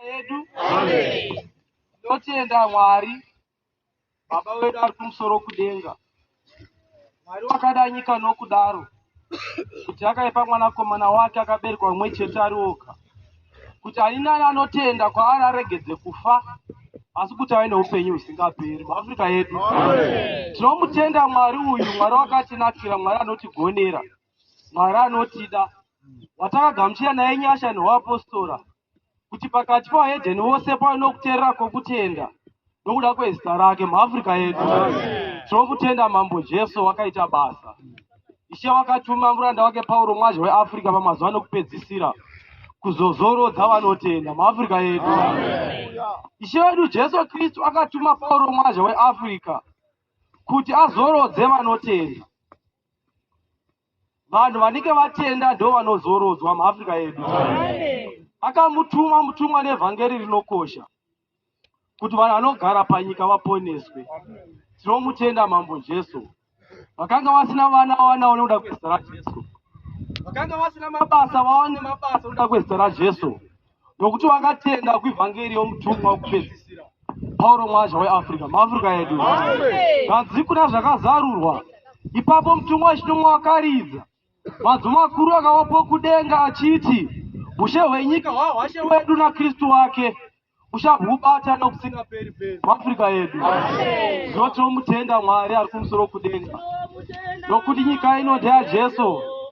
yedu tinotenda mwari baba wedu ari kumusoro kudenga mwari wakada nyika nokudaro kuti akaipa mwanakomana wake akaberekwa mumwe chete ari oga kuti ani nani anotenda kwaari aregedze kufa asi kuti ave neupenyu husingaperi muafrica yedu tinomutenda mwari uyu mwari wakatinakira mwari anotigonera mwari anotida watakagamuchira naye nyasha neuapostora kuti pakati pavahedheni vose pave nokuteerera kwokutenda nokuda kwezita rake muafrica yedu tinokutenda mambo jesu wakaita basa ishe wakatuma muranda wake pauro mwazha weafrica pamazuva nokupedzisira kuzozorodza vanotenda muafrica yedu ishe wedu jesu kristu akatuma pauro mwazha weafrica kuti azorodze vanotenda vanhu vanenge vatenda ndo vanozorodzwa muafrica yedu akamutuma mutumwa nevhangeri rinokosha kuti vanhu vanogara panyika vaponeswe tinomutenda mambo jesu vakanga vasina vana vawana vanoda kwezita rajesu vakanga vasina mabasa vawane mabasa oda kwezita rajesu nokuti vakatenda kuivhangeri yomutumwa wokupedzisira pauro mwazha weafrica muafrica yedu kanzi kuna zvakazarurwa ipapo mutumwa wechinomwe wakaridza madzo makuru akawapo kudenga achiti ushe hwenyika hwahwashe wedu nakristu wake uchabwubata nokusingaperi peri muafrica yedu zvino tinomutenda mwari ari kumusoro kudenga nokuti nyika ino ndeyajesu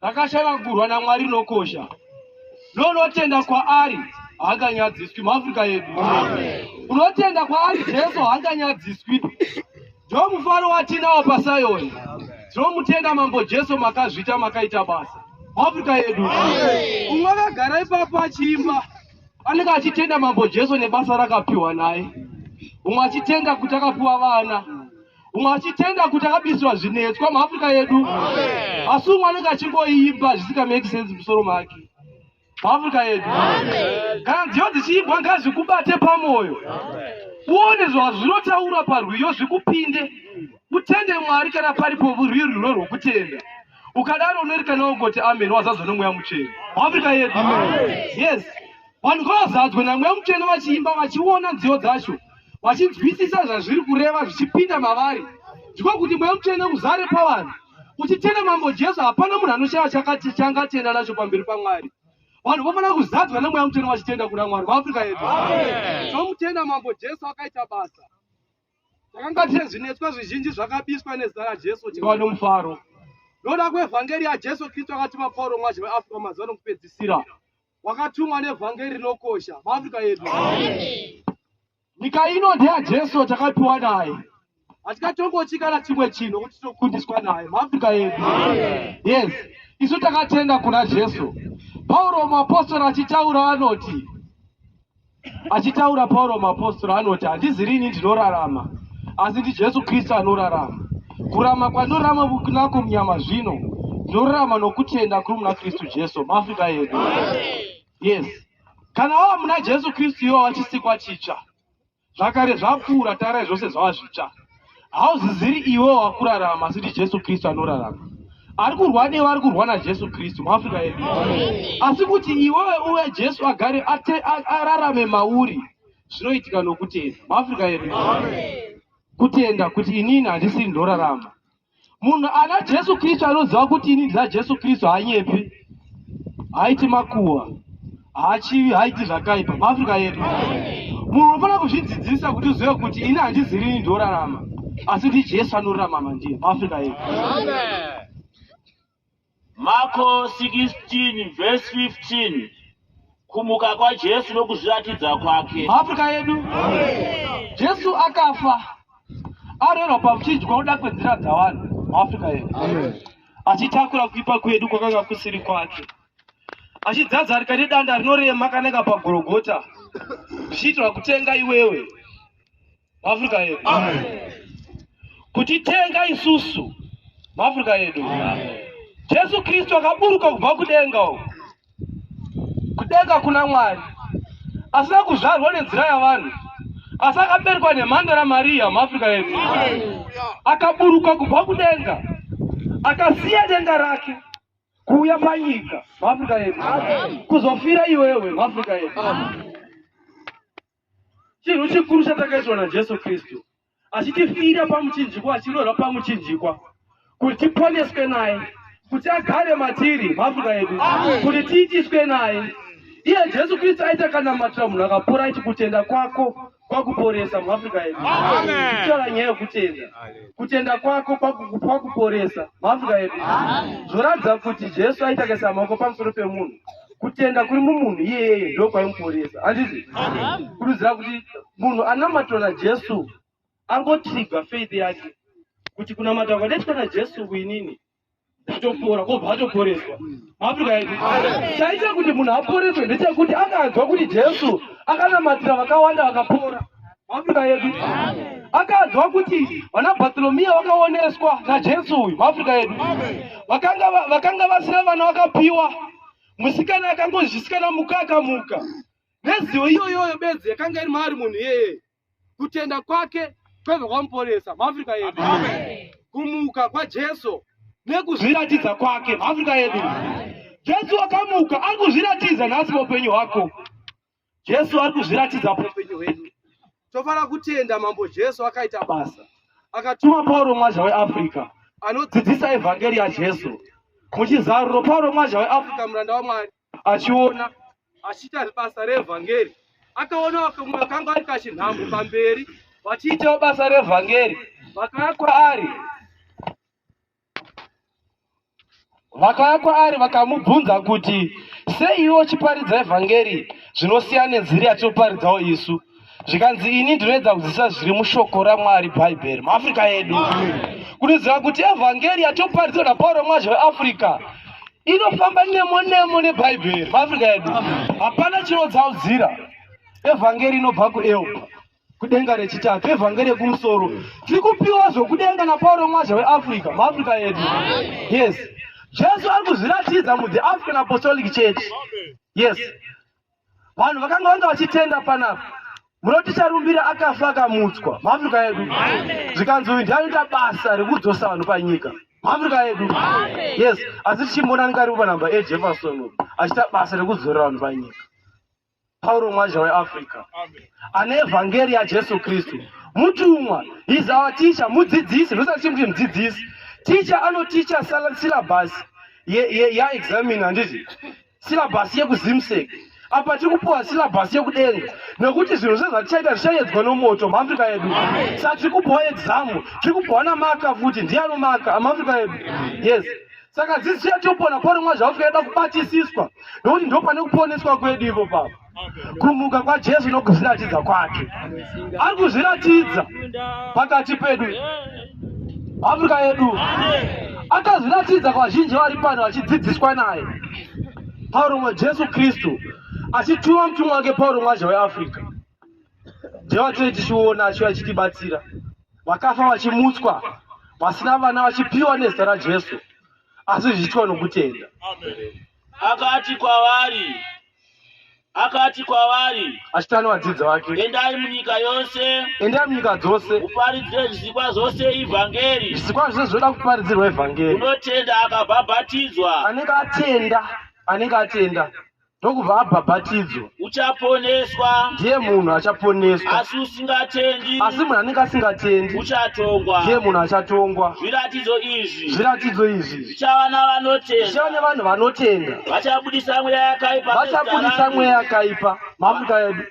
rakashanangurwa naMwari rinokosha nonotenda kwaari haanganyadziswi muafrica yedu unotenda kwaari jesu haanganyadziswi ndo mufaro watinawo pasayoni tinomutenda mambo jesu makazvita makaita basa muafrica yedu umwe akagara ipapo achiimba anenge achitenda mambo jesu nebasa rakapiwa naye umwe achitenda kuti akapiwa vana umwe achitenda kuti akabisirwa zvinetswa muafrica yedu asi umwe anenge achingoimba zvisika make sense musoro make muafrica yedu kana nziyo dzichiimbwa ngazvikubate pamwoyo uone zvazvinotaura parwiyo zvikupinde utende mwari kana paripo rwiyo rwuno rwokutenda ukadaro unoerekana ungoti amen wazadzwa nomweya muchena muafrica yedu yes Vanhu ngavazadzwe naMweya Mutsvene vachiimba, vachiona nziyo dzacho, vachinzwisisa zvazviri kureva zvichipinda mavari. Ndiko kuti Mweya Mutsvene uzare pavanhu. Uchitenda Mambo Jesu, hapana munhu anoshaya chakati changatenda nacho pamberi paMwari. Vanhu vofanira kuzadzwa neMweya Mutsvene vachitenda kuna Mwari. VaAfrica yedu. Tinotenda Mambo Jesu akaita basa. Takanga tine zvinetswa zvizhinji zvakabiswa nezita raJesu tikava nomufaro. Noda kwevhangeri yaJesu Kristu akatuma Pauro mwazi weAfrica mazuva nokupedzisira. wakatumwa nevhangeri rinokosha muafrica yedu nyika ino ndeya jesu takapiwa naye hatikatongochi kana chimwe chinhu kuti tinokundiswa naye muafrica yedu yes isu takatenda kuna jesu pauro muapostora achitaura anoti Achitaura Pauro muapostora anoti, Handizi rini ndinorarama, asi ndiJesu Kristu anorarama. Kurama kwandorama kunako munyama zvino, ndinorarama nokutenda kuri muna Kristu Jesu. Maafrika edu. Yes. Kana wava muna Jesu Kristu iwo wachisikwa chitsva. Zvakare zvapfuura, tarai zvose zvava zvitsva. Hauziziri iwe wakurarama, asi ndiJesu Kristu anorarama. Ari kurwa newe, ari kurwa naJesu Kristu muAfrica yedu. Asi kuti iwewe uye Jesu agare ate- a- ararame mauri, zvinoitika nokutenda muAfrica yedu. Kutenda kuti inini handisiri ndorarama, Munhu ana Jesu Kristu anoziva kuti ini ndina Jesu Kristu haanyepi, haiti makuwa, haachivi, haiti zvakaipa. MaAfrica yedu, munhu unofanira kuzvidzidzisa kuti uzive kuti ini handizi rini ndinorarama, asi ndi Jesu anorarama mandiye. MaAfrica yedu. Amen. Mako 16 vhesi 15 kumuka kwaJesu nokuzviratidza kwake. Afrika yedu Jesu akafa arerwa pamuchinjwa kuda kwenzira dzavanhu muAfrica yedu achitakura kuipa kwedu kwakanga kusiri kwake achidzadzarika nedanda rinorema kananga pagorogota zvichiitirwa kutenga iwewe maAfrica edu kutitenga isusu maAfrica edu Jesu Kristu akaburuka kubva kudenga uko kudenga kuna Mwari asina kuzvarwa nenzira yavanhu asi akaberekwa nemhandara Mariya maAfrica edu akaburuka kubva kudenga akasiya denga rake kuuya panyika maAfrica edu kuzofira iwewe maAfrica edu Chinhu chikuru chatakaitwa naJesu Kristu, achitifira pamuchinjikwa, achirohwa pamuchinjikwa kuti tiponeswe naye, kuti agare matiri mafuta edu, kuti tiitiswe naye. Iye Jesu Kristu aita kana matira munhu akapora aiti kutenda kwako kwakuporesa muafrica yedu kutaura nyaya yekutenda kutenda kwako kwakuporesa muafrica yedu zvoratidza kuti jesu aitakaisa maoko pamusoro pemunhu kutenda kuri mumunhu iyeyeye ndo kwaimuporesa handizvi kurudzira kuti munhu anamatwa najesu angotrigwa faith yake kuti kunamata kwadaitwa najesu kuinini kutopora kobva atoporeswa maafrika yedu chaita kuti munhu aporeswe ndechekuti akanzwa kuti jesu akanamatira vakawanda vakapora Maafrika yedu akanzwa kuti vana Bartholomew vakaoneswa naJesu uyu maafrika yedu vakanga va- vakanga vasina vana vakapiwa musikana akangozvisikana muka akamuka nezivo iyoyoyo bedzi yakanga iri maari munhu iyeye kutenda kwake kwaiva kwamuporesa maafrika yedu kumuka kwajesu nekuzviratidza kwake maafrika yedu jesu wakamuka ari kuzviratidza nhasi paupenyu hwako Jesu ari kuzviratidza paupenyu hwedu. Tofara kutenda Mambo Jesu akaita basa. Akatuma Pauro mwazha weAfrica anodzidzisa evhangeri yaJesu. Muchizaruro Pauro mwazha weAfrica muranda waMwari achiona achiita basa reevhangeri akaona vakamwe vakanga vari kachinhambo pamberi vachiitawo basa reevhangeri vakauya kwaari Vakauya kwaari vakamubvunza kuti, Sei iwe uchiparidza evhangeri zvinosiya nenziri yatinoparidzawo isu? Zvikanzi, Ini ndinoedza kudzidzisa zviri mushoko raMwari Bhaibheri, muAfrica yedu. Kuniziva kuti evhangeri yatinoparidza na Pauro Mwazha weAfrica inofamba nemo nemo neBhaibheri, muAfrica yedu. Hapana chinodzaudzira evhangeri inobva kuEupa. kudenga rechitatu evhangeri yekumusoro tiri kupiwa zvokudenga napauro mwazha weafrica muafrica yedu yes jesu ari kuzviratidza muthe african apostolic church yes vanhu vakanga vanga vachitenda panapa munoti charumbira akafa akamutswa muafrica yedu zvikanzi uyu ndianoita basa rekudzosa vanhu panyika muafrica yedu yes asi tichimbonani karipo panhamba ejefferson achita basa rekudzorera vanhu panyika Pauro mwaja weAfrica ane evhangeri yaJesu Kristu mutumwa is our teacher mudzidzisi ndosati chimuti mudzidzisi teacher anoticha syllabus yaexamin handiti syllabus yekuzimsek apa tiri kupiwa syllabus yekudenga nekuti zvinhu zve zvatichaita zvichayedzwa nomoto muafrica yedu sa tiri kupiwa examu tiri kupiwa namaka futi ndiye anomaka muafrica yedu yes saka this year topona poromwa zvavo tikaenda kubatisiswa nokuti ndo pane kuponeswa kwedu ivo pavo kumuka kwajesu nokuzviratidza kwake ari kuzviratidza pakati pedu afrika yedu akazviratidza kwazhinji vari pano vachidzidziswa naye pauromwa jesu kristu achituma mutumwa wake pauromwa zve weafrica ndevatoi tichiona achiva achitibatsira vakafa vachimutswa vasina vana vachipiwa nezita rajesu asi zvichiitwa nokutenda akati kwavari akati kwavari achitana vadzidzi vake endai munyika yose endai munyika dzose uparidzire zvisikwa zvose ivhangeri zvisikwa zvose zvinoda kuparidzirwa ivhangeri unotenda akabhabhatidzwa anenge atenda anenge atenda ndokubva abhabhatidzwa uchaponeswa ndiye munhu achaponeswa asi usingatendi asi munhu anenge asingatendi uchatongwa ndiye munhu achatongwa zviratidzo izvi zviratidzo izvi zvichava navanotenda zvichava nevanhu vanotenda vachabudisa mweya yakaipa vachabudisa mweya yakaipa mamuka yedu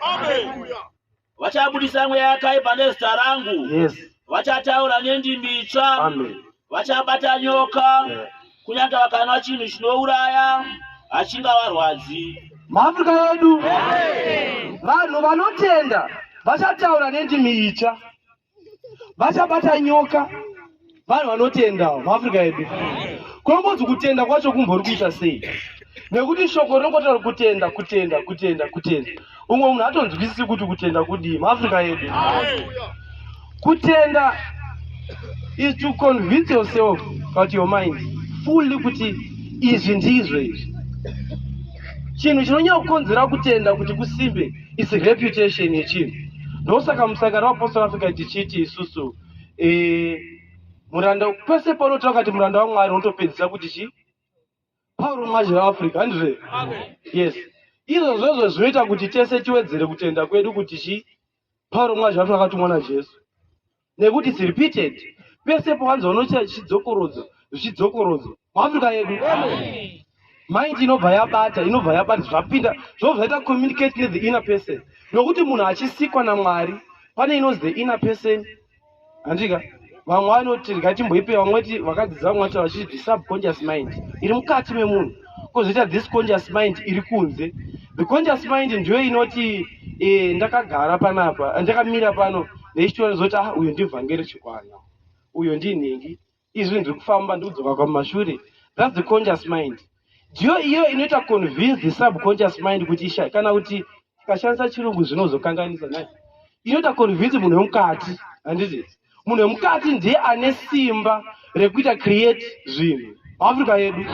Vachabudisa mweya yakaipa nezita rangu. Yes. Vachataura nendimi itsva. Amen. Vachabata nyoka. Yeah. Kunyange vakanwa chinhu chinouraya achingavarwadzi. Maafrika yedu vanhu vanotenda vachataura nendimi itsva. vachabata nyoka vanhu vanotendawo muafrica yedu kunongonzi kutenda kwacho kumbori kuita sei nekuti shoko rinongotaura kutenda kutenda kutenda kutenda umwe munhu atonzwisisi kuti kutenda kudii muafrica yedu kutenda is to convince yourself but your mind fully kuti izvi ndizvo izvi chinhu chinonyanya kukonzera kutenda kuti kusimbe is reputation yechinhu ndosaka musangano wapostal africa tichiti isusu e, muranda pese paunotaura kati muranda wamwari unotopedzisa kuti chii pauro mwazi reafrica handizve yes izvo zvozvo zvinoita kuti tese tiwedzere kutenda kwedu kuti chii pauro mwazi reafrica akatumwa najesu nekuti it's repeated pese pawanzwa unoita chidzokorodzo zvichidzokorodzo muafrica yedu mind inobva yabata inobva yabata zvapinda zvobva zvaita communicate nethe inner person nokuti munhu achisikwa namwari pane inozi the inner person handika vamwe vanoti rikatimboipei vamwe ti vakadzidza vamwe vati vachiti the subconscious mind iri mukati memunhu kozoita this conscious mind iri kunze the conscious mind ndiyo inoti e, ndakagara panapa ndakamira pano neichitoona zoti ah uyo ndivhangeri chikwana uyo ndinhingi izvi ndiri kufamba ndikudzoka kwamashure thats the conscious mind ndiyo iyo inoita convince the subconscious mind kuti isha kana kuti Ukashandisa chirungu zvinozokanganisa nhai? Inoita convince munhu wemukati, handiti? Munhu wemukati ndiye ane simba rekuita create zvinhu. Africa yedu.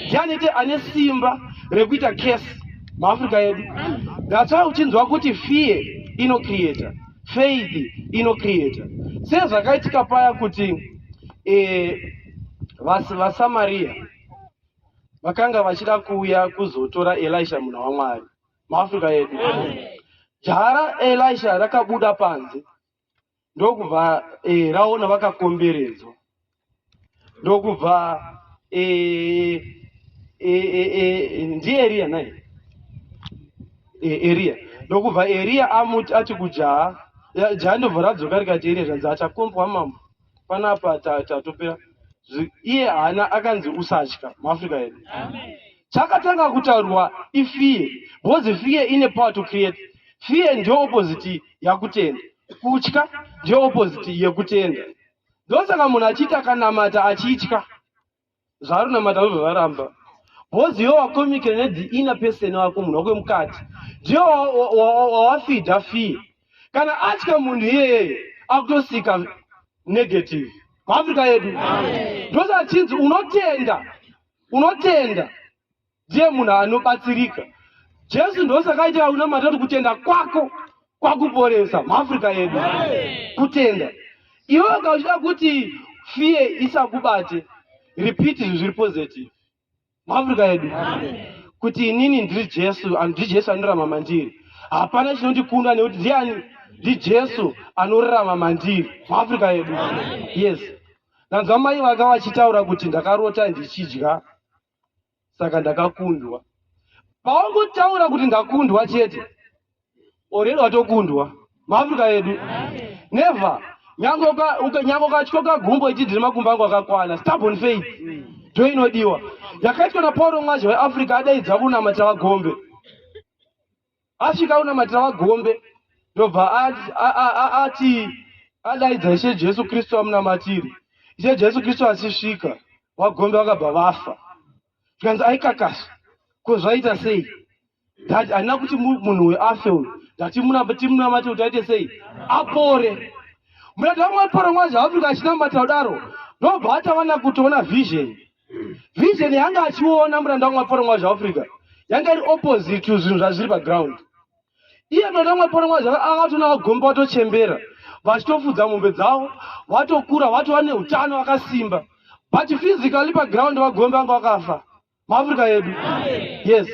Ndiye anoita ane simba rekuita case muAfrica yedu. That's why uchinzwa kuti fear ino creator, faith ino creator. Sezvakaitika paya kuti eh, vas- vaSamaria vakanga vachida kuuya kuzotora Elisha munhu waMwari. maafrika yedu jara elisha rakabuda panze ndokubva e, raona vakakomberedzwa ndokubva e, e, e, e, ndieriya nai e, eriya ndokubva eriya amuti ati kujaha jaha ndobva radzoka rikati eriya zvanzi achakombwa mambo panapa tatopera ta, iye haana akanzi usatya muafrica yedu chakatanga kutaurwa ifear because fear ine power to create fear ndiyo opposite yakutenda kutya ndiyo opposite yekutenda ndosaka munhu achiita akanamata achitya zvaari namata vobva varamba bhozi iwe wakomikira nedi ina peseni wako munhu wako mukati ndiyo wawafidha fee kana atya munhu iyeye akutosika negative muafrica yedu ndosaka chinzi unotenda unotenda ndiye munhu anobatsirika jesu ndosakaiti aunamata kuti kutenda kwako kwakuporesa muafrica yedu kutenda iwe ka uchida kuti fiye isakubate repeat izvi zviri positive muafrica yedu kuti inini ndiri jesu ndiri jesu anorama mandiri hapana chinondikunda nekuti ndiani ndijesu anorarama mandiri muafrica yedu yes ndanzwa mai vaka vachitaura kuti ndakarota ndichidya saka ndakakundwa pawangotaura kuti ndakundwa chete oredi watokundwa maafrica edu never nyange ukatyo kagumbo ichidhiri makumbo angu akakwana stubborn faith ndo inodiwa yakaitwa napauro mwazha weafrica adaidza kunamata vagombe asvika unamatira vagombe ndobva ati adaidza ishe jesu kristu amunamatiri ishe jesu kristu achisvika vagombe vakabva vafa zvikanzi aikakasa ko zvaita sei that handina kuti munhu weafe uyu ndatimunamate kuti aite sei apore murati vamwe apora mwazi afrika achinamata kudaro ndobva atavana kutoona vision vision yanga achiona muranda wamwe aporonga zveafrica yanga iri opposite to zvinhu zvazviri paground iye muranda wamwe aporonga zvaanga atona vagomba vatochembera vachitofudza mombe dzavo vatokura vatova neutano vakasimba but physically paground vagombe vanga vakafa maafrica yedu yes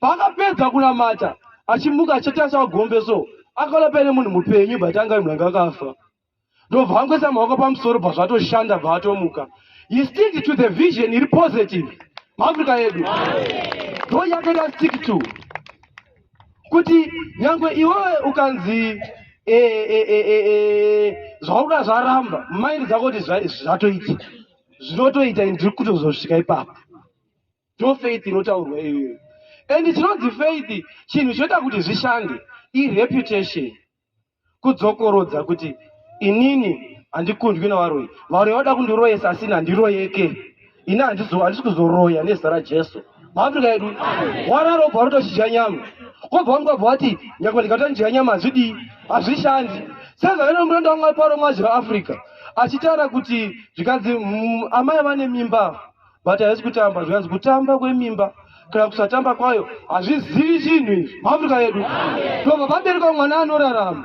paakapedza kunamata achimuka achitasa vagombe so akalapaine munhu mupenyu but anga muranga akafa ndobva vangoisa maoko pamusoro bva zvatoshanda bva vatomuka he stick to the vision iri positive muafrica yedu ndo yatoda stick to kuti nyange iwewe ukanzi eh, eh, eh, zvauda zvaramba maindi dzako kuti zvatoita zvinotoita ini ndiri kutozosvika ipapo ndo faith inotaurwa iyoyo and chinonzi faith chinhu chinoita kuti zvishande ireputation kudzokorodza kuti inini handikundwi navaroyi varoyi vada kundiroyesa asi ini handiroyeke ini handisi kuzoroya nezita rajesu maafrica yedu wararo obva rotozhidya nyama kobva wamwe kwabva wati nyakwa ndikata ndidya nyama hazvidii hazvishandi sezvaino muranda wamwe ari paro mwazi veafrica achitaura kuti zvikanzi mm, amai vane mimba but haisi kutamba zvikanzi kutamba kwemimba kana kusatamba kwayo hazvizivi chinhu izvi muafrica yedu ndobva vabereka mwana anorarama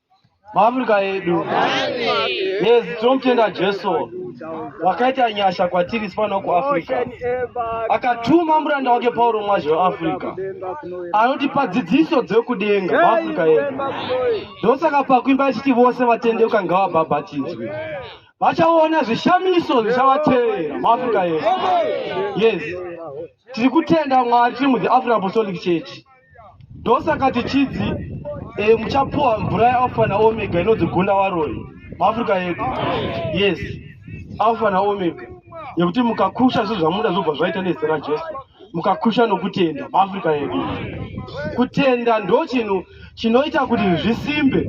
maafrica edu yes tinomutenda jesu wakaita nyasha kwatiri sipano kuafrica akatuma muranda wake pauro mwazhe weafrica anotipa dzidziso dzekudenga maafrica edu ndosaka pakuimba achiti vose vatendeuka ngavabhabhatidzwe vachaona zvishamiso zvichavateera maafrica edu yes Tiri kutenda Mwari tiri mu The African Apostolic Church. Ndosaka tichidzi e, muchapuwa mvura yeAlpha na Omega inodzi gunda waroi muAfrica yedu. Yes. Alpha na Omega. Yekuti mukakusha zvinhu zvamuda zvobva zvaita nezita raJesu. Mukakusha nokutenda muAfrica yedu. Kutenda ndo chinhu chinoita kuti zvisimbe.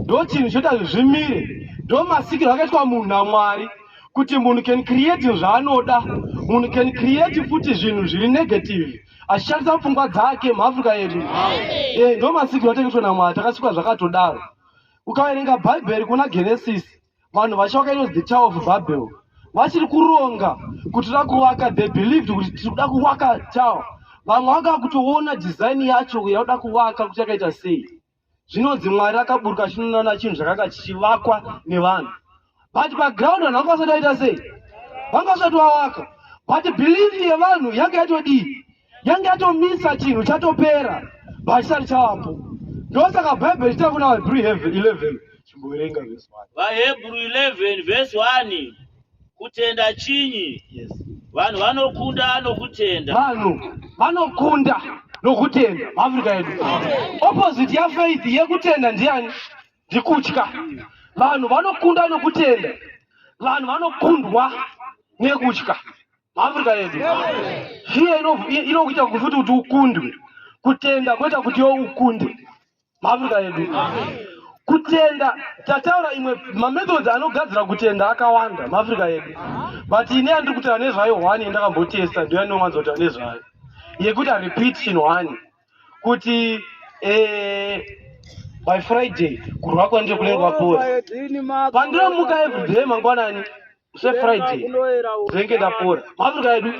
Ndo chinhu chinoita kuti zvimire. Ndo masikiro akaitwa munhu naMwari. kuti munhu can create zvaanoda munhu can create futi zvinhu zviri negative achishandisa pfungwa dzake muafrica yedu eh, ndo masikiro ateketwa namwari takasikwa zvakatodaro ukaverenga bhaibheri kuna genesis vanhu vacho vakainonzi the tower of babel vachiri kuronga kuti toda kuvaka they believed kuti tiri kuda kuvaka tower vamwe vanga kutoona design yacho yaoda kuvaka kuti yakaita sei zvinonzi mwari akaburuka achinoona chinhu chakanga chichivakwa nevanhu but paground vanhu vanga vasati vaita sei vanga vasati vavaka but belief yevanhu yange yatodii yange yatomisa chinhu chatopera vachisati chavapo ndosaka bhaibheri chita kuna vahebrew 11 chimboverenga vhesi 1 vahebrew 11 vhesi 1 Kutenda chinyi? Yes. Vanhu vanokunda nokutenda. Vanhu vanokunda nokutenda muAfrica yedu. Opposite ya faith yekutenda ndiyani? Ndikutya. Vanhu vanokunda nokutenda. Vanhu vanokundwa nekutya muAfrica yedu. Fear inokuita kufuti kuti ukundwe. Kutenda koita kuti yo ukunde. mabuda edu kutenda tataura imwe mamethods anogadzira kutenda akawanda maafrica edu but ine yandiri kutaura nezvayo one yandakambotesta ndo yandinowanza kutaura nezvayo yekuti arepeat chinhu one kuti eh, by friday kurwa kwanje kunenge kwapora pandinomuka everyday mangwanani sefriday dzinenge ndapora maafrika edu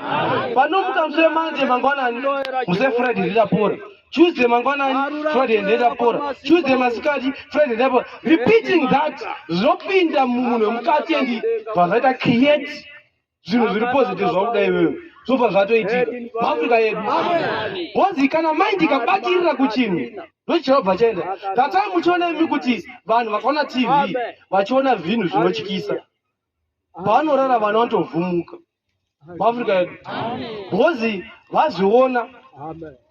panomuka muse manje mangwanani muse friday ndidapora tuesday mangwanani friday ndidapora tuesday masikati friday ndidapora repeating that zvinopinda mumunhu wemukati endi vazvaita create zvinhu zviri positive zvakuda iwewe zvobva zvatoitika maafrika edu bhozi kana mind ikabatirira kuchinhu ndochirobva chaenda tatai muchiona imi kuti vanhu vakaona tv vachiona zvinhu zvinotyisa pavanorara vana vatovhumuka muafrica yedu because vazviona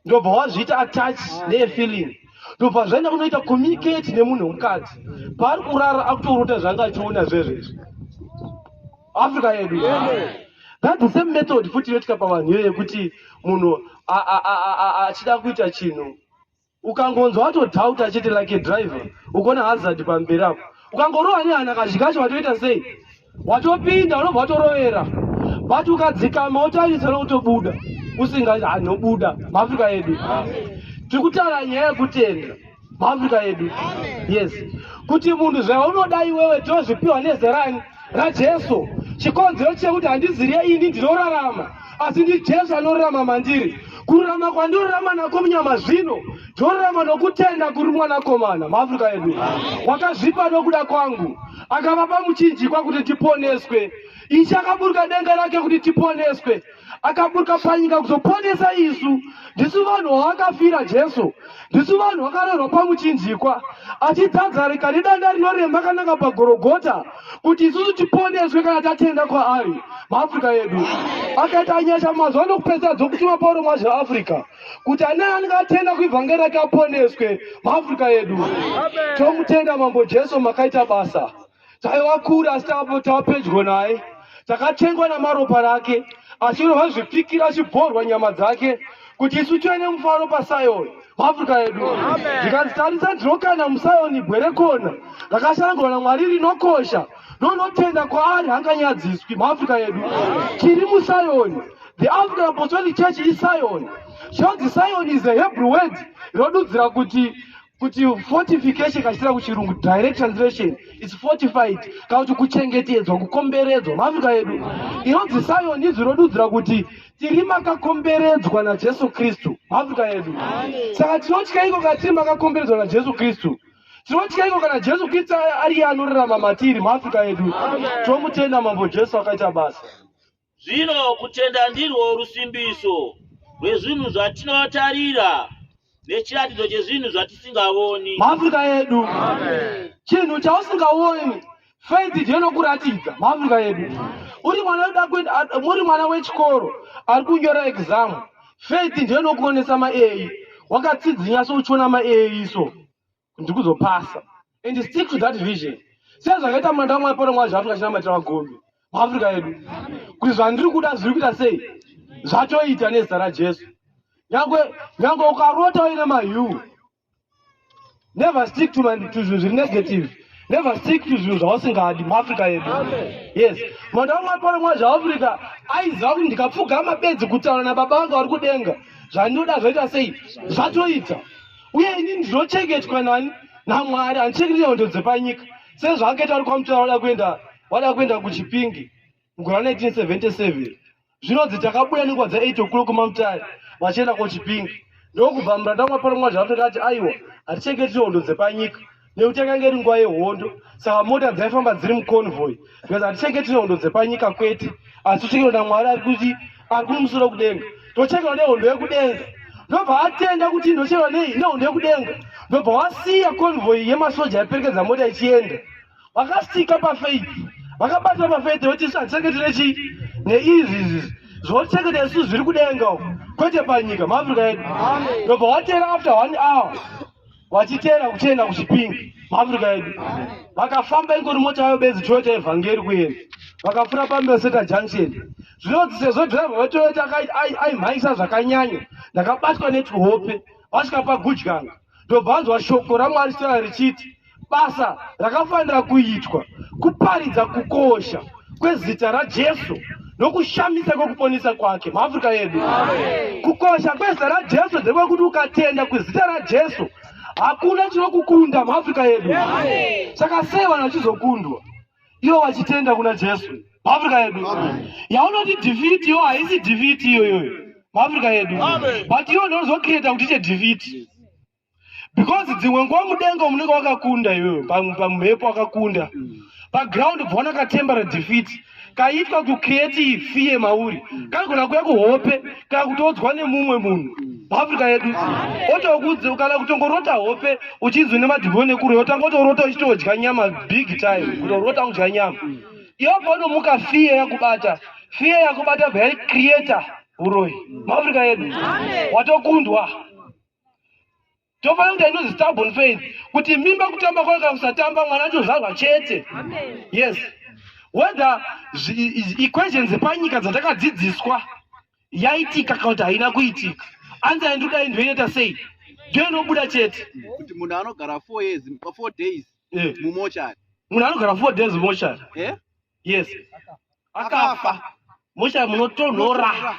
ndobva wazviita attach nefeeling ndobva zvaenda kunoita communicate nemunhu wemukadzi paari kurara akutorota zvanga achiona zvezvezvi africa yedu that the same method futi inoitika pavanhu iyo yekuti munhu achida kuita chinhu ukangonzwa watodhauta chete like driver ukona hazard pamberi apo ukangorowa nehana kazhi kacho watoita sei watopinda unobva watorovera but ukadzikama wotarisa nokutobuda usinga anobuda maafrica yedu tiri kutaura nyaya yekutenda maafrica yedu yes kuti munhu zvaunoda iwewe tozvipiwa nezerani raJesu chikonzero chekuti handiziriye ini ndinorarama asi ndiJesu anorarama mandiri kururama kwandinorarama nako munyama zvino ndinorarama nokutenda kuri mwanakomana maafrica edu wakazvipa nokuda kwangu akavapa muchinjikwa kuti tiponeswe ichi akaburuka denga rake kuti tiponeswe akaburuka panyika kuzoponesa isu ndisu vanhu vavakafira jesu ndisu vanhu vakarerwa pamuchinjikwa achidzadzarika nedanda rinoremba kananga pagorogota kuti isusu tiponeswe kana tatenda kwaari maafrica edu akaita nyasha mazuva anokupedzisa dzokutuma pauro mazve africa kuti ane anenge atenda kuivhangeri rake aponeswe maafrica edu tomutenda mambo jesu makaita basa taiva kure asi tava pedyo naye takatengwa namaropa rake asi ino vazvipikira achibhorwa nyama dzake kuti isu tive nemufaro pasayoni muafrica yedu zvikanzi tarisa ndinokana musayoni bwerekona rakashandwa namwari rinokosha ndonotenda kwaari hanganyadziswi muafrica yedu tiri musayoni the african apostolic church isayoni shozi sayoni is a hebrew word rinodudzira kuti kuti fortification kachitira kuchirungu direct translation is fortified kana kuti kuchengetedzwa kukomberedzwa maafrika yedu inonzi sayoni izwi rodudzira kuti tiri makakomberedzwa najesu kristu maafrika yedu saka tinotya iko kana tiri makakomberedzwa najesu kristu tinotya iko kana jesu kristu ariye anorarama matiri maafrika yedu tomutenda mambo jesu akaita basa Zvino kutenda ndirwo rusimbiso rwezvinhu zvatinotarira nechiratidzo chezvinhu zvatisingavoni. Maafrika edu, chinhu chausingavoni faith ndiyo inokuratidza. Maafrika edu, uri mwana unoda kuenda, muri mwana wechikoro ari kunyora exam, faith ndiyo inokuonesa maei wakatsidzinya so uchiona maei iso ndikuzopasa and stick to that vision sezvakaita manda wamwari pano mwari zvaafrika chinamatira vagombe muafrika yedu kuti zvandiri kuda zviri kuita sei zvatoita nezita rajesu nyangwe nyangwe ukarota uine mayu never stick to zvinhu zviri negative never stick to zvinhu zvausingadi muafrika yedu yes manda wamwari pano mwari zvaafrika aiziva kuti ndikapfugama bedzi kutaura nababa vanga vari kudenga zvandinoda zvaita sei zvatoita uye ini ndinochengetwa nani namwari handichengeti hondo dzepanyika sezvaakaita ari kwamutara wada kuenda wada kuenda kuchipingi mugora 1977 zvinonzi takabuda nenguva dza8 okulo kumamutari vachienda kochipingi ndokubva muranda mwaparo mwazvaatokati aiwa hatichengeti hondo dzepanyika nekuti yakanga iri nguva yehondo saka mota dzaifamba dziri muconvoy because hatichenge tine hondo dzepanyika kwete asi tochekerwa namwari ari kuti ari kumusoro kudenga tochekerwa nehondo yekudenga ndobva atenda kuti ndochekerwa nei nehondo yekudenga ndobva wasiya convoy yemasoja yaiperekedza mota ichienda vakastika pafeith vakabatira pafeith voti isu hatichenge tine chii neizvi izvi zvochengeta isu zviri kudenga uko kwete panyika maafrica yedu ndobva watera after one hour vachiteera kuchienda kuchipingi muafrica yedu vakafamba ingori mota yayo bedzi toyota yevhangeri kuenda vakafura pambeseta junction zvinonzi sezvo driver vetoyota aimhaisa zvakanyanya ndakabatwa netuhope vasvika pagudyanga ndobva anzwa shoko ramwari sera richiti basa rakafanira kuitwa kuparidza kukosha kwezita raJesu nokushamisa kwekuponesa kwake muAfrica yedu. Kukosha kwezita raJesu ndekwekuti ukatenda kwezita raJesu hakuna chinokukunda muAfrica yedu. Saka sei vanhu vachizokundwa ivo vachitenda kuna Jesu muAfrica yedu? Yaunoti defeat iyo haisi defeat iyoyoyo muAfrica yedu, but iyo ndozokireta kuti iche defeat because dzimwe nguva mudenga munenge wakakunda iwewe pamhepo wakakunda paground bva wanakatembera defeat kaitwa kucreate fear mauri kanogona kuya kuhope kana kutodzwa nemumwe munhu muafrica yedu otokudzi kana kutongorota hope uchinzwi nemadhimoni ekure otanga otorota uchitodya nyama big time kutorota kudya nyama iyo panomuka fear yakubata fear yakubata bva yari creator uroyi muafrica yedu watokundwa tofanira kuita inozi stubborn faith kuti mimba kutamba kwayo kana kusatamba mwana achozvarwa chete yes whether equations dzepanyika dzatakadzidziswa yaitika kana kuti haina kuitika anza yandiri kudai ndoinoita sei ndiyo inobuda chete kuti munhu anogara four years four days eh. mumochari munhu anogara four days mumochari eh? yes akafa mochari munotonhora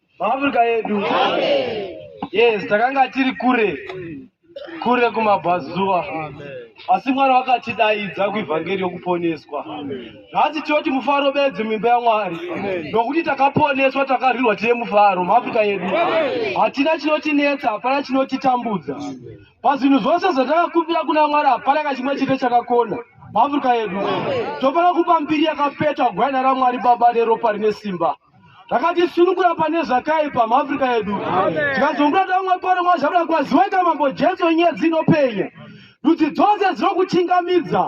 Africa yedu. Yes, takanga tiri kure kure kumabvazuva asi mwari vakatidaidza kuivhangeri yokuponeswa nhasi tinoti mufaro bedzi mimba yamwari nokuti takaponeswa takarwirwa tine mufaro muafrica yedu hatina chinotinetsa hapana chinotitambudza pazvinhu zvose zvatakakumbira kuna mwari hapana kachimwe chete chakakona muafrica yedu tofanira kupa mbiri yakapetwa gwaina ramwari baba neropa rine simba takatisunukura pane zvakaipa muafrica yedu tikazongura tamwe pano mazvabuda kwaziwaika mambo jesu nyaya dzinopenya ndudzi dzose dzinokuchingamidza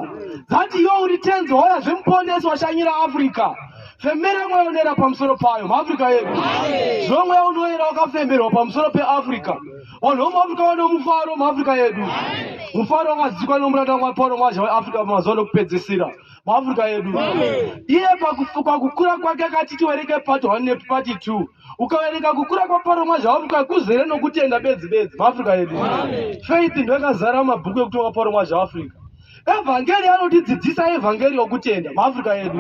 dzati iwe uri tenzi hora zvemuponesi washanyira africa femera mweya unoera pamusoro payo muafrica yedu zvino mweya unoera wakafemerwa pamusoro peafrica vanhu vomuafrica vane mufaro muafrica yedu mufaro wakadzikwa nomuranda wapano mwazha weafrica pamazuva nokupedzisira muafrica yedu iye pakukura kwake akati tiwerenge part one nepart two ukaverenga kukura kwaparomwa zvawafuka kuzere nokutenda bedzi bedzi muafrica yedu faith ndo yakazara mabhuku ekuti wakaparomwa zvaafrica evhangeri anotidzidzisa evhangeri yokutenda muafrica yedu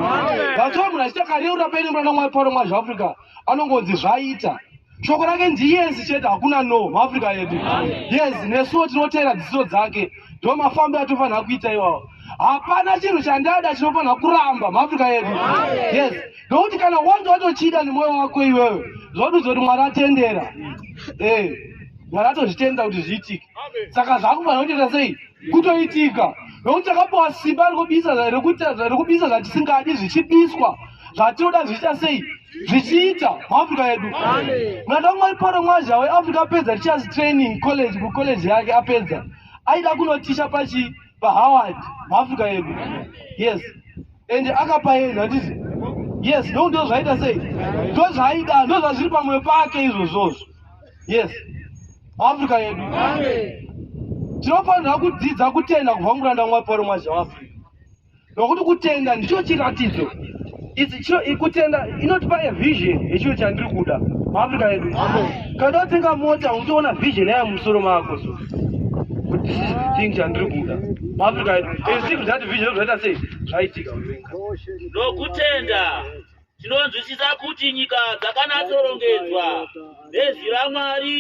vatoo munhu achitakareura paine murana mwaiparomwa zvaafrica anongonzi zvaita shoko rake ndiyezi chete hakuna no muafrica yedu yezi nesuwo tinoteera dziso dzake ndo mafambi atofanira kuita iwawo hapana chinhu chandada chinofanira kuramba muafrica yedu yes nokuti kana wanga watochida nemwoyo wako iwewe zvodudzo kuti mwari atendera e mwari atozvitenda kuti zviitike saka zvakufanira kutoita sei kutoitika nokuti takapiwa simba rekubisa rekubisa zvatisingadi zvichibiswa zvatinoda zvichiita sei zvichiita muafrica yedu mwana wamwari paro mwazha weafrica apedza richas training college kucollege yake apedza aida kunotisha pachi pahoward muafrica yedu yes ende akapaenda handizi yes ndo ndo zvaita sei ndo zvaida ndo zvazviri pamwe pake izvozvozvo yes muafrica yedu tinofanira kudzidza kutenda kubva muranda mwari paro mwazha weafrica nokuti kutenda ndicho chiratidzo ichi chiro ikutenda inotipa a vision yechiro chandiri kuda muafrica yedu kada watenga mota unotoona vision yayo musoro mako so kuti this is the thing chandiri kuda muafrica yedu and still that vision zvaita sei zvaitika nokutenda Tinonzwisisa kuti nyika dzakanatsorongedzwa nezwi raMwari,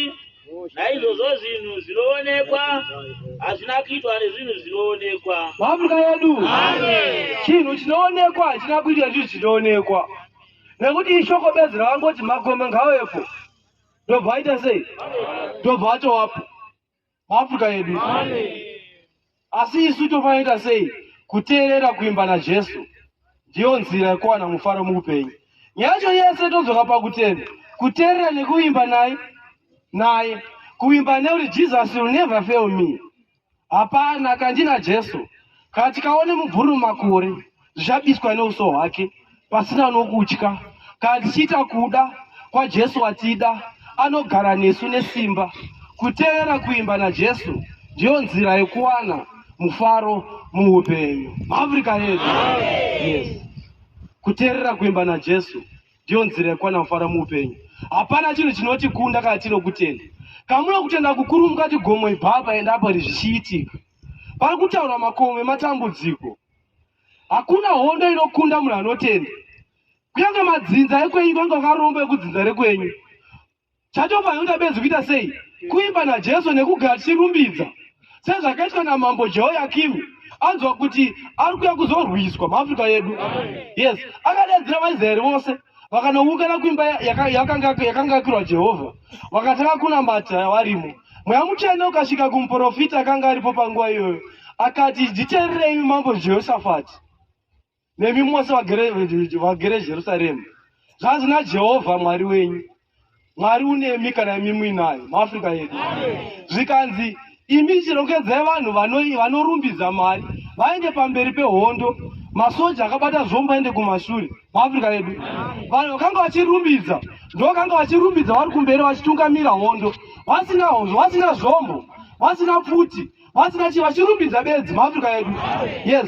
naizvozvo zvinhu zvinoonekwa hazvina kuitwa nezvinhu zvinoonekwa. Mhamga yedu, chinhu chinoonekwa hachina kuitwa nezvinhu zvinoonekwa, nekuti ishoko bedzi rakangoti makomo ngawepo, ndobva aita sei? Ndobva atowapo. maafrica edu asi isu tofanira sei kuteerera kuimba najesu ndiyo nzira yekuwana mufaro muupenyu nyacho yese todzoka pakutenda kuteerera nekuimba naye naye kuimba nekuti jesus will never fail me hapana kandina jesu kana tikaone mubvuri mumakore zvichabiswa neuso hwake pasina nokutya kana tichiita kuda kwajesu watida anogara nesu nesimba kuteerera kuimba najesu ndiyo nzira yekuwana mufaro muupenyu maafrica yedu yes kuteerera kuimba najesu ndiyo nzira yekuwana mufaro muupenyu hapana chinhu chinotikunda kana tino kutenda kamuno kutenda kukuru mukati gomo ibaba endapo rizvichiitika pari kutaura makomo ematambudziko Hakuna hondo inokunda munhu anotenda. Kunyange madzinza ekwenyu vange vakaromba ekudzinza rekwenyu. Chacho panoda benzi kuita sei? Kuimba naJesu nekugara tichirumbidza. Sezvakaitwa naMambo Jehoyakimu anzwa kuti ari kuya kuzorwiswa muAfrica yedu. Yes, akadaidzira vaIsraeri vose. vakanoungana kuimba yakangaakirwa jehovha vakatanga kunamata varimo mweya mutsvene ukasvika kumuprofita akanga aripo panguva iyoyo akati nditeererei mambo jehoshafati nemi mose vagere jerusaremu zvanzi najehovha mwari wenyu Mwari unemi kana imi muinayo muAfrica yedu. Zvikanzi imi chirongedzai vanhu vanorumbidza Mwari vaende pamberi pehondo masoja akabata zvombo aende kumashure muAfrica yedu. Vanhu vakanga vachirumbidza ndovakanga vachirumbidza vari kumberi vachitungamira hondo vasina hozvo vasina zvombo vasina pfuti vasina chii vachirumbidza bedzi muAfrica yedu. Yes.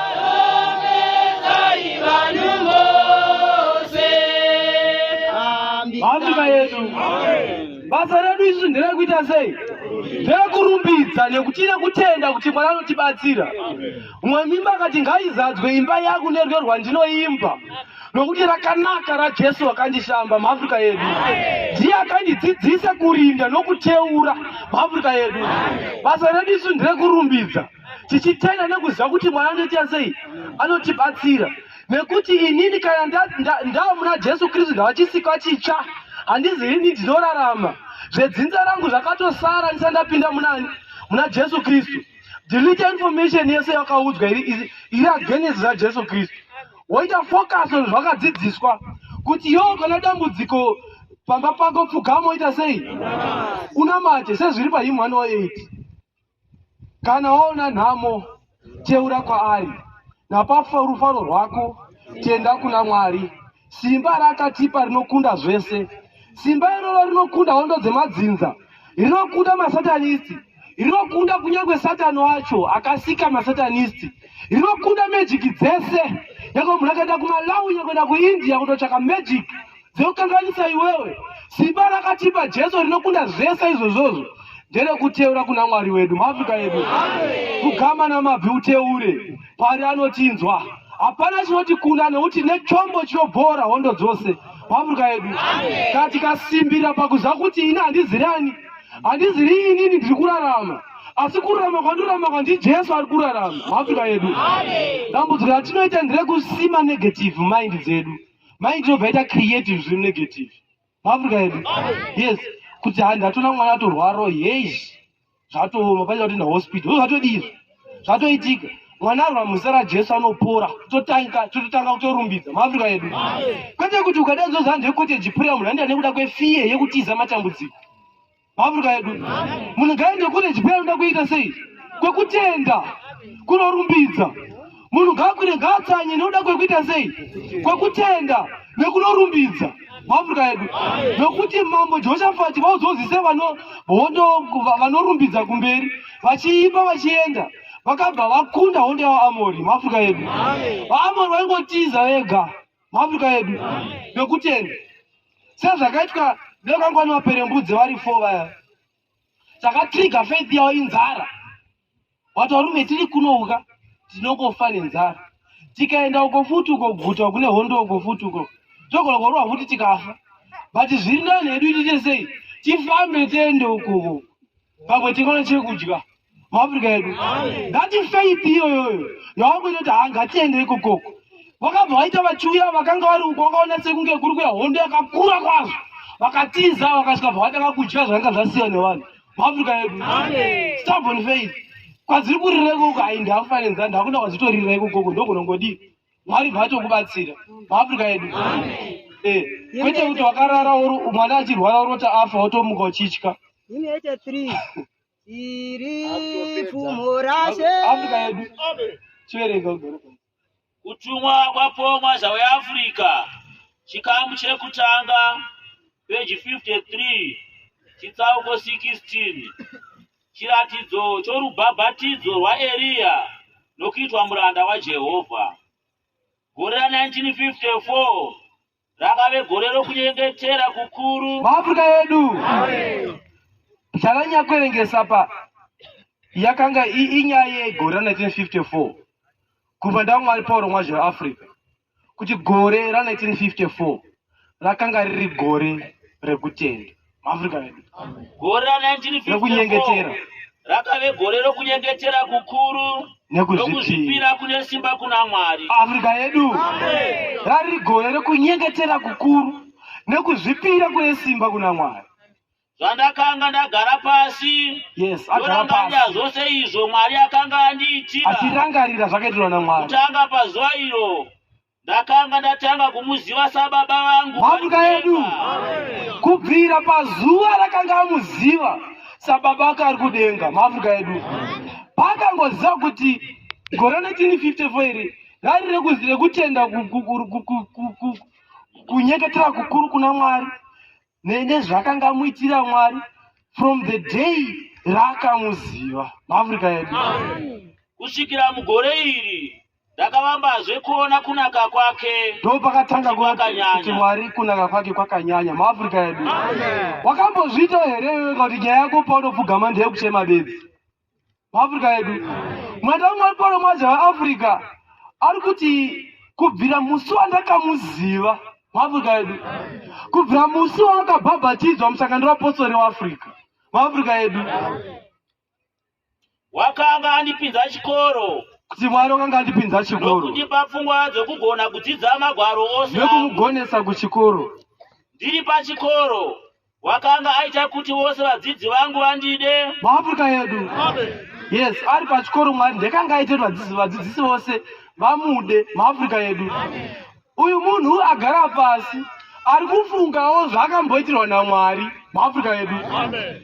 Hambika yedu basa redu izvi nderekuita sei ndekurumbidza nekuti nekutenda kuti mwana anotibatsira umwe mimba akati ngaizadzwe imba yangu neryo rwandinoimba nokuti rakanaka rajesu wakandishamba muafrica yedu ndiye akandidzidzisa kurinda nokuteura muafrica yedu basa redu isu nderekurumbidza tichitenda nekuziva kuti mwari anoita sei anotibatsira nekuti inini kana ndava muna jesu kristu ndavachisikwa chitsva handizi ini ndinorarama zvedzinza rangu zvakatosara ndisa ndapinda munani muna jesu kristu delete information yese yakaudzwa iri iri agenesi rajesu kristu woita focus on zvakadzidziswa kuti yo kana dambudziko pamba pako pfugamo ita sei unamate sezviri pahimwana wa 8 Kana waona nhamo, teura kwaari, napafa rufaro rwako, tenda kuna Mwari. Simba raakatipa rinokunda zvese. Simba iroro rinokunda hondo dzemadzinza, rinokunda masatanisti, rinokunda kunyange satani wacho akasika masatanisti, rinokunda mejiki dzese. Nyangwe munhu akaenda kumalawi, nyangwe kuenda kuindia kutotsvaka mejiki Dzokanganisa iwewe. Simba rakatipa Jesu rinokunda zvese izvozvozvo nderekuteura kuna Mwari wedu. Mafika yedu. Kugama namabvi uteure. Pari anotinzwa. Hapana chinoti kuna nekuti nechombo chinobhoora hondo dzose. Mafika yedu. Kana tikasimbira pakuziva kuti ini handizirani. Handiziri inini ndiri kurarama asi kurarama kwandirarama kwa ndijesu ari kurarama muafrica yedu dambudziko ratinoita nderekusima negative mind dzedu mai tinobva ita creative zviri negative maafrica edu yes kuti handi hatona mwana atorwaro hei zvatooma paita kuti nahospital zvozvatodii zvatoitika mwana arwa muzita rajesu anopora totanga tototanga kutorumbidza maafrica edu kwete kuti ukada zozanzve koteji pura munhu andida nekuda kwefiye yekutiza matambudziko Africa yedu munhu ngaende kune chipera unoda kuita sei kwekutenda kunorumbidza munhu ngakwire ngaatsanye nekuda kwekuita sei kwekutenda nekunorumbidza muafrica yedu nokuti mambo jehoshafati vaudzozise hondo vanorumbidza kumberi vachiimba vachienda vakabva vakunda hondo yavaamori muafrica yedu vaamori vaingotiza vega Mwabvuka yedu yokutenda sezvakaitwa nevangwani vaperembudzi vari fo vaya takatriga faith yavo inzara wati varume tiri kunouka tinongofa nenzara tikaenda uko futi uko guta kune hondo uko futi uko togona kurowa futi tikafa but zviri ndani hedu tiite sei tifambe tiende ukoko pamwe tikaona chekudya muafrica yedu ngati faith iyoyoyo yawakuita kuti haa ngatiendere kokoko vakabva vaita vachiuya vakanga vari uko vakaona sekunge kuri kuya hondo yakakura kwazvo vakatiza vakasvika bva vatanga kudya zvakanga zvasiya nevanhu muafrica yedu stubborn faith kwadziri kurireko uko hayi ndakufanenzanhu hakuna kwadzitoriraiko koko ndokunongodii Mwari ngavatokubatsira muAfrica yedu eh, kwete kuti wakarara mwana achirwara orota afa wotomuka uchitya iri pfumo rashe Africa yedu chiverenga kutumwa kwapomwa zhau yeAfrica chikamu chekutanga peji 53 chitsauko 16 Chiratidzo chorubhabhatidzo rwaEriya nokuitwa muranda waJehovha. Gore ra 1954 rakave gore rokunyengetera kukuru. Maafrika yedu zvananyanya kuverengesa pa yakanga inyaya yegore ra 1954 kubva ndaumwari paurongwa zveAfrica. kuti gore ra 1954 rakanga riri gore rekutenda maafrica vedu gore ra 1954 rekunyengetera rakave gore rokunyengetera kukuru nokuzvipira kune simba kuna mwari afrika yedu rari gore rekunyengetera kukuru nekuzvipira kune simba kuna mwari Zvandakanga ndagara pasi yes, ndorangarira zvose izvo Mwari akanga andiitira. Achirangarira zvakaitirwa naMwari. Kutanga pazuva iro ndakanga ndatanga kumuziva sababa vangu. Mhatuka yedu kubvira pazuva rakanga amuziva sababa ake ari kudenga. Mhatuka yedu pakangoziva kuti gore 1954 iri rari rekutenda kunyeketera kukuru kuna Mwari nezvaakangamuitira Mwari from the day raakamuziva muAfrica yedu. Kusvikira mugore iri ndakavambazve kuona kunaka kwake. Ndipo pakatanga kuti Mwari kunaka kwake kwakanyanya muAfrica yedu. Wakambozviita here iwe kuti nyaya yako paunopfugama ndeyekuchema bedzi? muafrica yedu mwenda umwe ari pano mwaja vaafrica ari kuti kubvira musi wandakamuziva muafrica yedu kubvira musi waakabhabhatidzwa musangano wapostori waafrica muafrica yedu wakanga andipinza chikoro kuti mwari wakanga andipinza chikoro nokundipa pfungwa dzokugona kudzidza magwaro ose nekumugonesa kuchikoro ndiri pachikoro Wakanga aita kuti vose vadzidzi vangu vandide. MuAfrica yedu. Yes, ari pachikoro Mwari ndekanga aita kuti vadzidzi vadzidzisi vose vamude muAfrica yedu. Uyu munhu agara pasi ari kufungawo zvaakamboitirwa naMwari muAfrica yedu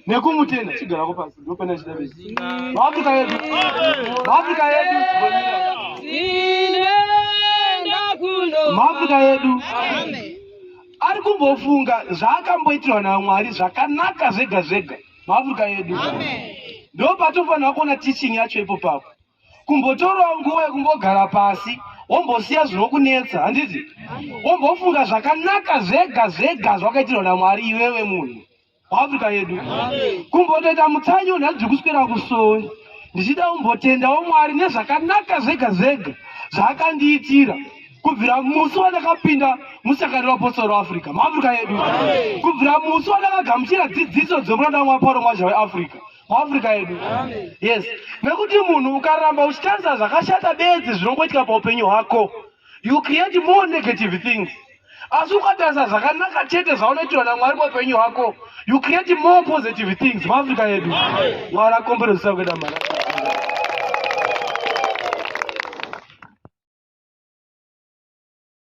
nekumutenda chigarako pasi ndopena chida vese muAfrica yedu muAfrica yedu muAfrica yedu Amen. ari kumbofunga zvaakamboitirwa namwari zvakanaka zvega zvega muafrica yedu ndo patofanira kuona teaching yacho ipo papo kumbotorawo nguva yekumbogara pasi wombosiya zvinokunetsa handiti wombofunga zvakanaka zvega zvega zvakaitirwa namwari iwewe munhu Africa yedu kumbotoita mutsanyo nhasi ndiri kuswera kusowe ndichida kumbotendawo mwari nezvakanaka zvega zvega zvaakandiitira kubvira musi wandakapinda musangano wapostori weafrica muafrica yedu kubvira musi wandakagamuchira dzidziso dzemuranda wamwa pauro mwazha weafrica muafrica yedu yes nekuti munhu ukaramba uchitarisa zvakashata bedzi zvinongoitika paupenyu hwako you create more negative things asi ukatarisa zvakanaka chete zvaunoitirwa namwari muupenyu hwako you create more positive things muafrica yedu mwari akomberezisa kuenda mari